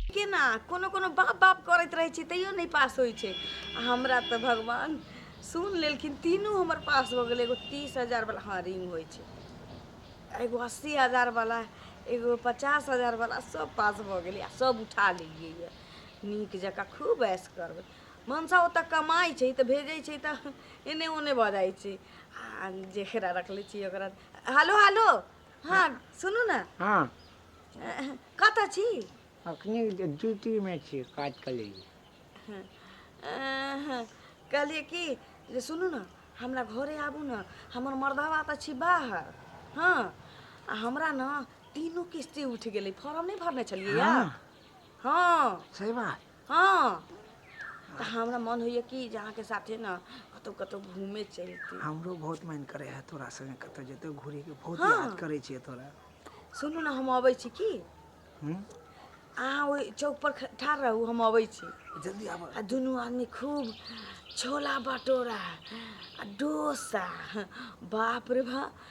केना कोनो कोनो बाप बाप करैत रहै छी तैयो नहि पास होइ छै आ हमरा तऽ भगवान सुन लेलखिन तीनू हमर पास भऽ गेलै एगो तीस हजारवला हँ रिंग होइ छै एगो अस्सी हजारवला एगो पचास हजारवला सब पास भऽ गेलै आ सब उठा लेलियै यऽ नीक जकाँ खूब ऐश करबै मनसा ओतऽ कमाइ छै तऽ भेजै छै तऽ एने ओने भऽ जाइ छै आ जेकरा रखले छी ओकरा हेलो हेलो हँ सुनू ने हँ कतऽ छी अखनी ड्यूटीमे छी काज कऽ लै कहलियै कि जे सुनू ने हमरा घरे आबू ने हमर मर्दवा तऽ छी बाहर हँ आ हमरा ने तीनू किस्ती उठि गेलै फॉर्म नहि भरने छलियै हँ सही बात हँ तऽ हमरा मन होइया कि जे अहाँके साथे ने कतहु कतहु घूमे चलि जैती हमरो बहुत मन करे है तोरा संगे कतौ जेतौ घूरे के बहुत हाँ। याद करे छियै तोरा सुनू ने हम अबै छी की हम्म? अहाँ ओहि चौक पर ख- ठाढ़ रहू हम अबै छी जल्दी आब आ दुनू आदमी खूब छोला भटोरा आ डोसा बाप रे बा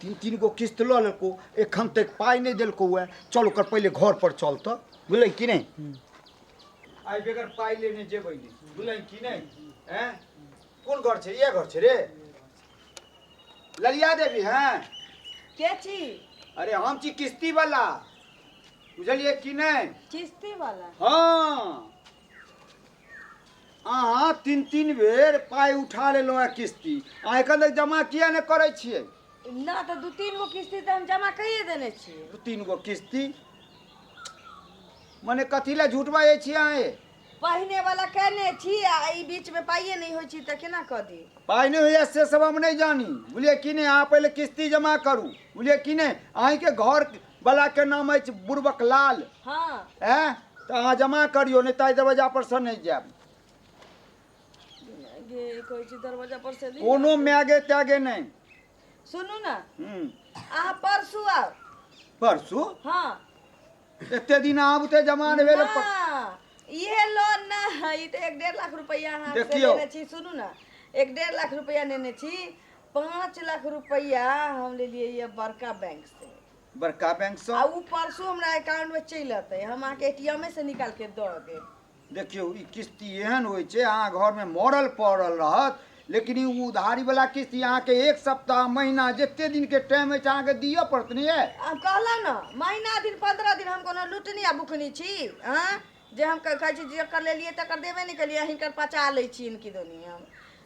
तीन तीन गो किस्त लऽ लेलको एखन तक पाइ नहि देलको हुए चल ओकर पहिले घर पर चल तऽ बुझलै कि नहि आइ बेगर पाइ लेने जेबै नहि बुझलै कि नहि हैं कोन घर छै इएह घर छै रे ललिया देवी हैं के छी अरे हम छी किस्ती वाला बुझलियै कि नहि किस्ती वाला हँ अहाँ तीन तीन बेर पाइ उठा लेलहुँ हैं किस्ती अहाँ एखन तक जमा किया नहि करै छियै ना तो दू तीन गो किस्ती तो हम जमा करिए देने छी दू तीन गो किस्ती मने कथी लए झूठ बाजै छियै अहाँ ये? पहिने वाला कहने छी आ ई बीच में पाइए नहीं होइ छी तो केना कह दी पाइ नहि होइए से सब हम नहि जानी बुझलियै कि नहि अहाँ पहिले किस्ती जमा करू बुझलियै कि नहि अहीँके घर बलाके नाम अछि बुर्बक लाल हँ एँ तऽ अहाँ जमा करियौ नहि तऽ एहि दरवाजा पर से नहि जायब गे कहै छी दरवाजा पर से ली कोनो मैगे तैगे नहि सुनू ने हूँ। अहाँ परसू आउ परसू हँ एते दिन आब ते जमा नहि भेल पर- ना, इहे लोन ना है ई तऽ एक डेढ़ लाख रुपया अहाँ से देखियौ। लेने छी सुनू ने एक डेढ़ लाख रुपया लेने छी पाँच लाख रुपैया हम लेलियै ये बड़का बैंक से बड़का बैंक से आ उ परसो हमरा अकाउंट में चलि अतै हम अहाँ के एटीएम से निकाल के द देब देखियौ ई किस्ती एहन होइ छै अहाँ घर में मरल पड़ल रहत लेकिन ई उधारी वाला किस्ती अहाँ के एक सप्ताह महीना जते दिन के टाइम अछि अहाँ के दिअ पड़त ने ये हम कहलहुँ ने महीना दिन पंद्रह दिन हम कोनो लुटनी आ बुकनी छी आँ जे हम कह- कहै छी जेकर लेलियै तकर देबे नहि केलियै हिनकर पचा लै छी इनकी दोनी हम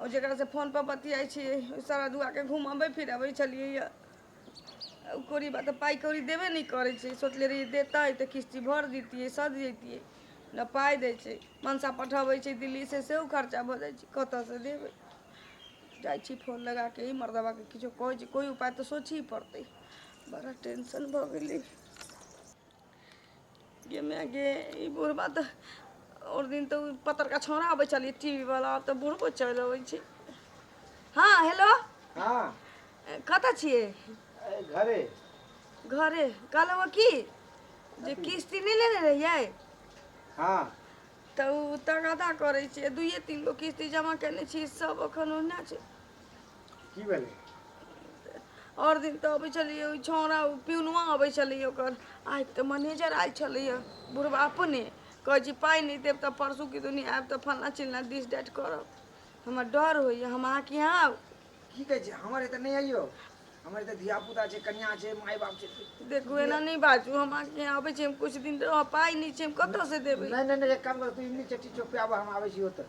ओ जकरासँ फोनपर बतियाइ छियै ओ सारा दुआके घुमबै फिरबै छलियैए ओ कौड़ी बा तऽ पाइ कौड़ी देबे नहि करै छै सोचले रहियै देतै तऽ किश्ती भरि दितियै सधि जैतियै ने पाइ दै छै मनसा पठबै छै दिल्लीसँ सेहो खर्चा भऽ जाइ छै कतयसँ देबै जाइ छी फोन लगा कऽ ई मर्दबाके किछो कहै छी कोइ उपाय तऽ सोचही पड़तै बड़ा टेंशन भऽ गेलै गे माय गे ई बुढ़बा तऽ आओर दिन तऽ ओ पतरका छौड़ा अबै छलियै टीवी वाला आब तऽ बुढ़बो चलि अबै छै हँ हेलो हाँ कतऽ छियै ए, घरे घरे कहलहुँ हँ की जे किस्ती नहि लेने रहियै हाँ तऽ ओ तगादा करै छियै दुइए तीन गो किस्ती जमा केने छी सब एखन ओहिना छै की भेलै आओर दिन तऽ अबै छलैए ओ छौड़ा ओ पिउनवा अबै छलैए ओकर आइ तऽ मैनेजर आयल छलैए बुढ़बा अपने कहै छी पाइ नहि देब तऽ परसू कि दुनी आयब तऽ फल्लाँ चिल्लाँ दिस डेट करब हमरा डर होइए हम अहाँके यहाँ आउ की कहै छै हमर एतऽ नहि आइयो हमर एतऽ धिया पुता छै कन्या छै माय बाप छै देखू एना नहि बाजू हम अहाँके यहाँ अबै छी हम किछु दिन रहब पाइ नहि छै हम कतऽसँ देबै नहि नहि नहि एक काम कर तू इमली चट्टी चौक पे आबऽ हम आबै छी ओतऽ